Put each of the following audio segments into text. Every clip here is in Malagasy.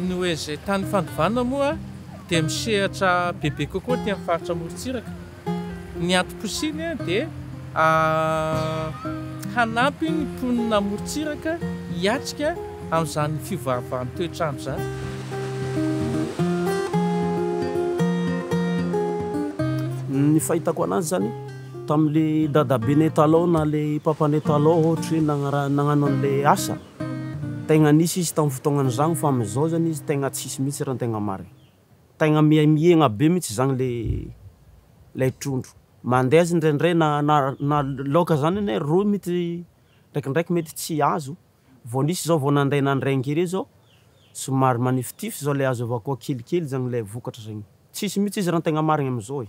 Ny ONG Tany Fandovana moa dia misehatra bebe kokoa aty amin'ny faritra amorontsiraka. Ny antom-posiny dia hanampy ny mponina amorontsiraka hiatrika amin'izany fiovaovan'ny toetr'andro izany. Ny fahitako anazy izany tamin'ilay dadabenay taloha na ilay papanay taloha ohatra hoe nagnarahany nagnano an'ilay asa. Tegna nisy izy tam fotoagnany zagny fa am zao zany izy tegna tsisy mitsy ra tegna marigny. Tegna miha miegna be mitsy zagny le lay trondro. Mandeha aza indraindray na na na laoka zany anie roy mitsy ndraikindraiky mety tsy azo, vao nisy zao vao nandray nandray ngery zao somary manifitify zao le azo avy akao kelikely zagny lay vokatra zagny. Tsisy mitsy izy ra tegna marigny am zao e.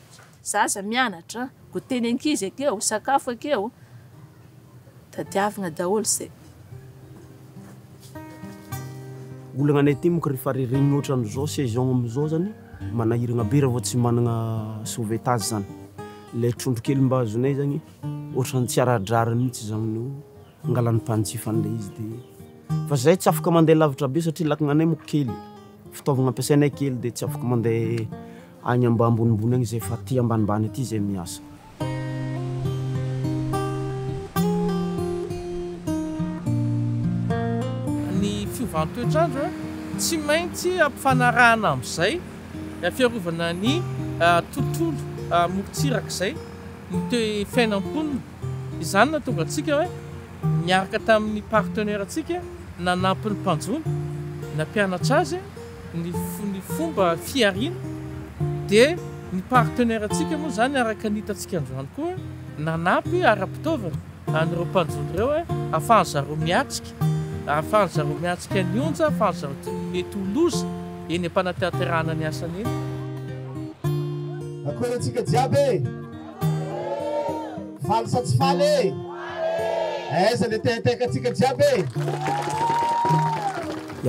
zaza mianatra, goûter ny ankizy akeo, sakafo akeo, tadiavina daholo izay. Olana any aty moko rehefa ririnina ohatran'izao saison amin'izao zany manahiragna be raha vao tsy managna sauvetage zany, ilay trondro kely mba azonay zany ohatran'ny tsy ara-drariny mihitsy zany no. Angalan'ny mpanjifa an'ilay izy dia fa zahay tsy afaka mandeha lavitra be satria lakananay moa kely, fitaovagna ampiasainay kely dia tsy afaka mandeha agny mba ambonimbony agny zahay fa aty ambanimbany aty zahay miasa. Ny fiovan'ny toetr'andro tsy maintsy ampifanarahana amin'izay fiarovana ny tontolo morontsirak'izay mitohy fiainam-ponina. Izany no nahatonga antsika hoe niaraka tamin'ny partenaire-ntsika nanampy ny mpanjono, nampianatra azy ny ny fomba fihariana, dia ny partenaire-ntsika moa izany araka ny hitantsika androany koa nanampy ara-pitaovana an'ireo mpanjono ireo hoe ahafahan'ny zareo miatrika, ahafahan'ny zareo miatrika ny onja, ahafahan'ny zareo tsy mety ho loza eny am-panatanterahana ny asany eny. Akory antsika jiaby e! Faly sa tsy faly e? Aiza le teinteinka antsika jiaby e?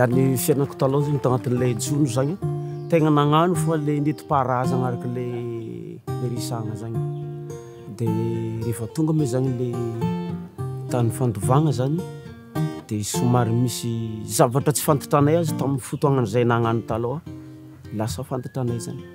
Ary ny fiainako taloha zany tao anatin'ilay jono zany tegna nagnano fa le nentim-paharazana araka le niresahana zany de rehefa tonga moa zany le tany fandovagna zany de somary misy zavatra tsy fantantranay azy tamin'ny fotoagnan'izay nagnano taloha lasa fantantranay zany.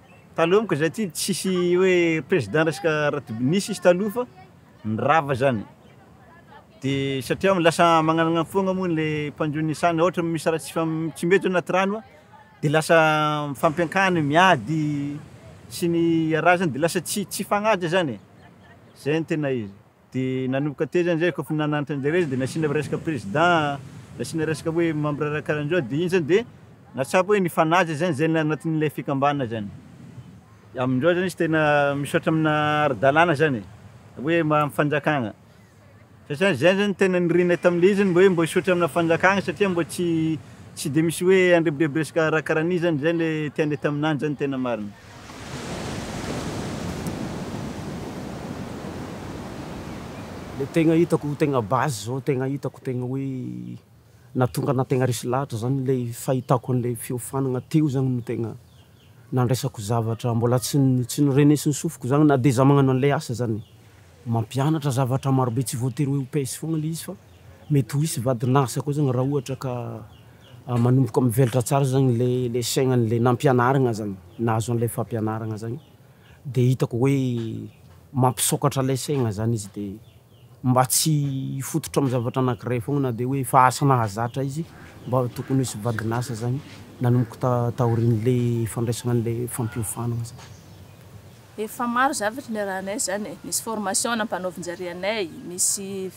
Taloha monko zay ty tsisy hoe président resaka ratibo- nisy izy taloha fa nirava zany, de satria lasa magnanana foagna moa le mpanjo ny saha na ohatra misy raha tsy fam- tsy mety anaty rano a de lasa mifampiankany miady sy ny araha zany de lasa tsy tsy fagnaja zany e, zay no tena izy. Dia nanomboka teo zany zay kôfa nananatra anjareo izy de nasiana resaka président, nasiana resaka hoe membre raha karanzao de iny zany de nahatsapa hoe nifanaja zany zay anatin'ilay fikambanana zany. Amin'izao zany izy tena misaotra amina ara-dalàna zany e, hoe amin'ny fanjakana, satria zay zany tena nirinay tamin'ilay izy zany mba hoe mba hisaotra amina fanjakana satria mba tsy tsy de misy hoe handrebidreby resaka raha karan'io zany, zay le tianay taminany zany tena marina. Le tegna hitako tegna base zao tegna hitako tegna hoe nahatonga anah tegna resy lahatra zany le fahitako an'le fiofanagna teo zany no tegna nandraisako zavatra mbola tsy n- tsy norenesin'ny sofiko zany na de za magnano an'le asa zany, mampianatra zavatra marobe tsy voatery hoe ho pèse foagna le izy fa mety ho hisy vadin'asa koa zany raha ohatra ka Manomboka mivelatra tsara zany le le saignany le nampianaragna zany nahazo an'le fampianaragna zany de hitako hoe mampisôkatra le saigna zany izy de mba tsy hifototra amy zavatra anakiray foagna na de hoe efa asa nahazatra izy mba tokony hisy vadin'asa zany nanomboka ta- taorian'le fandraisagna an'le fampiofanagna zany. Efa maro zavatra niarahanay zany e, nisy formation nampanaovin-jare anay, nisy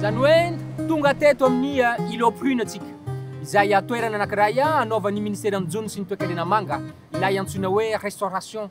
Izany hoe tonga teto amin'ny Îlot Prune antsika, izay toerana anankiray anaovan'ny Minisiteran'ny Jono sy ny Toekarena Manga ilay antsoina hoe Restauration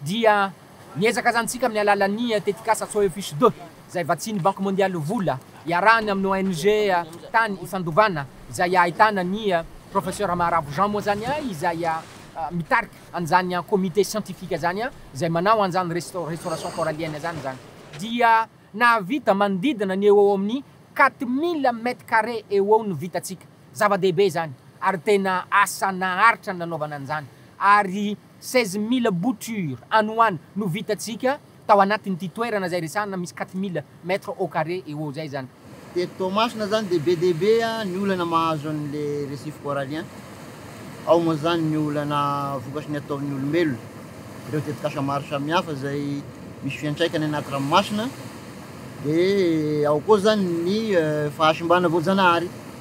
dia niezaka izany isika amin'ny alalan'ny tetikasa Soyons fiches de, izay vatsian'ny Banque Mondiale vola, iarahany amin'ny ONG tany Ifandovana, izay ahitana ny Professeur Maharavo Jean moa izany izay mitarika an'izany comité scientifique izany, izay manao an'izany restauration corallienne izany izany, dia nahavita manodidina ny eo ho eo amin'ny quatre mille mètres carrés eo ho eo no vitantsika. Zava-dehibe izany ary tena asa naharitra ny nanaovana an'izany ary Seize mille boutures any ho any no vitantsika tao anatin'ity toerana izay resahana misy quatre mille mètres au carré eo ho eo izay izany. Teto Toamasina izany dia be dia be ny olana mahazo an'ilay récif corallien. Ao moa izany ny olana vokatry ny ataon'ny olombelona, ireo tetikasa maro samihafa izay misy fiantraikany anaty ranomasina, dia ao koa izany ny fahasimbana voajanahary.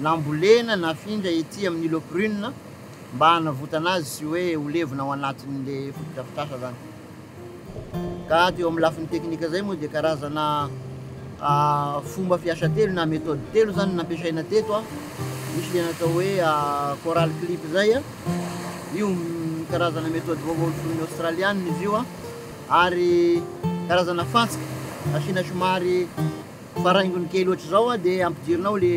nambolena nafindra ety amin'ny îlot Prune mba hanavotana azy sy hoe ho levona ao anatin'ilay fotodrafitrasa izany. Ka teo amin'ny lafiny teknika izay moa dia karazana fomba fiasa telo na méthode telo izany nampiasaina teto a. Misy ilay natao hoe coral clip izay a, io karazana méthode vaovao noforon'ny Aostraliana izy io a, ary karazana fantsika asiana somary Fa raha haingony kely ohatr'izao an, dia ampidirinao le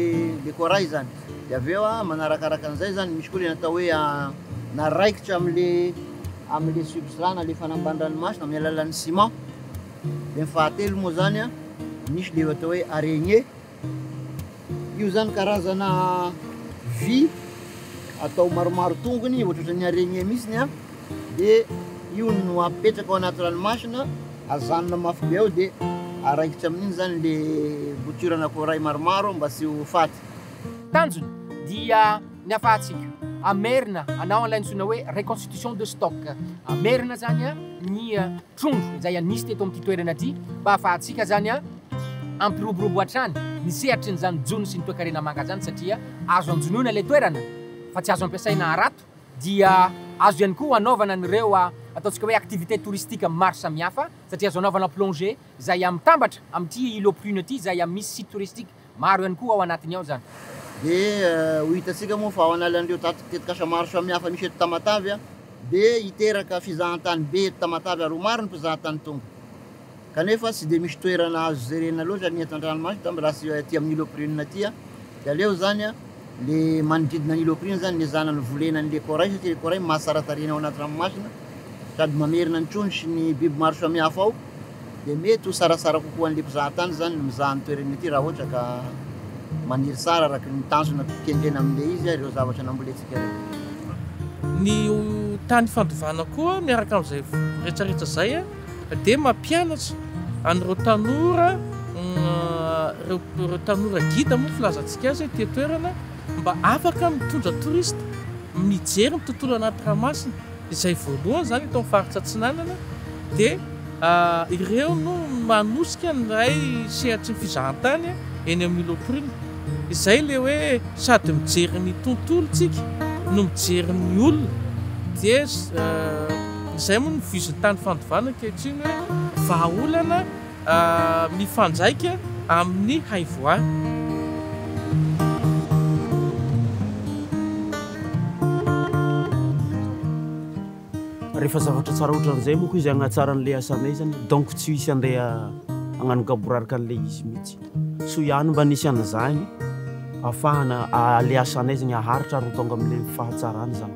le corail izany. Dia avy eo an, manarakaraka an'izay izany, misy koa le natao hoe na raikitra amin'le amin'le substrat na le fanambanin-dranomasina amin'ny alalan'ny ciment. Dia ny fahatelo moa izany an, misy le atao hoe araignée. Io izany karazana vy atao maromaro tongony, ohatrohatran'ny araignée mihitsy ny an. Dia io no apetraka ao anaty ranomasina, ajanona mafy be ao dia araikitra amin'iny izany ilay bouture na corail maromaro mba tsy ho faty. Tanjony dia ny afahantsika hamerina hanao an'ilay antsoina hoe reconstitution de stock, hamerina izany ny trondro izay nisy teto amin'ity toerana ity mba hafahantsika izany hampiroborobo hatrany ny sehatrin'izany jono sy ny toekarena manga izany satria azo anjonoina ilay toerana fa tsy azo ampiasaina harato. dia azo ihany koa anaovana an'ireo ataontsika hoe activités touristiques maro samihafa satria azo anaovana plongée izay mitambatra amin'ity île aux prunes ity izay misy sites touristiques maro ihany koa ao anatiny ao izany. Dia ho hitantsika moa fa ao analan'ireo tetikasa maro samihafa misy eto Tamatave dia hiteraka fizahantany be eto Tamatave ary ho maro ny mpizahatany tonga. Kanefa tsy dia misy toerana azo jerena loatra ny eto an-dranomasina izany raha tsy aty amin'ny Îlot Prune aty an! Dia aleo izany an, le manodidina an'i Îlot Prune izany ny ezahana ny volena an'ilay corail satria ilay corail mahatsara tarehina ao anaty ranomasina sady mamerina ny trondro sy ny biby maro samihafa ao dia mety ho tsaratsara kokoa an'ilay mpizaha tany izany ny mizaha ny toerany aty raha ohatra ka maniry tsara araka ny tanjona kendrena amin'ilay izy ireo zavatra nambolentsika ireo. Ny tany fandovana koa miaraka amin'izay retraretra izay an! Dia mampianatra an'ireo tanora, ireo tanora gida moa filazantsika azy ety an-toerana, mba afaka mitondra touriste, mijery ny tontolo anaty ranomasina, izay voalohany izany eto amin'ny faritra Atsinanana, dia ireo no manosika ny iray sehatry ny fizahantany eny amin'ny Îlot Prune. Izay ilay hoe sady mijery ny tontolo isika no mijery ny olona. Dia. Izay moa no vizin'tany fandovana ankehitriny hoe vahaolana mifandraika amin'ny haivoany. Rehefa zavatra tsara ohatran'izay moa koa izy hagnatsara an'ilay asanay zany donc tsy hisy handeha hagnano gaboraraka an'ilay izy mihitsy. Soa ihany mba nisy an'izany ahafahana ilay asanay zany haharitra ary ho tonga amin'ilay fahatsarana izany.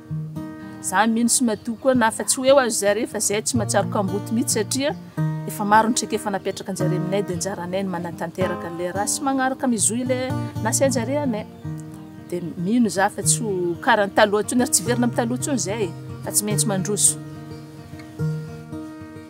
Za mino sy madio koa na fa tsy ho eo aza zare fa zay tsy mahatsiaro kamboty mitsy satria efa maro ny traikefa napetraka njare aminay de njaranay ny manatanteraka anle raha sy magnaraka mizohy le nasainjare anay de mino za fa tsy ho kara ny taloha tsony ary tsy hiverina am taloha tsony zay fa tsy maintsy mandroso.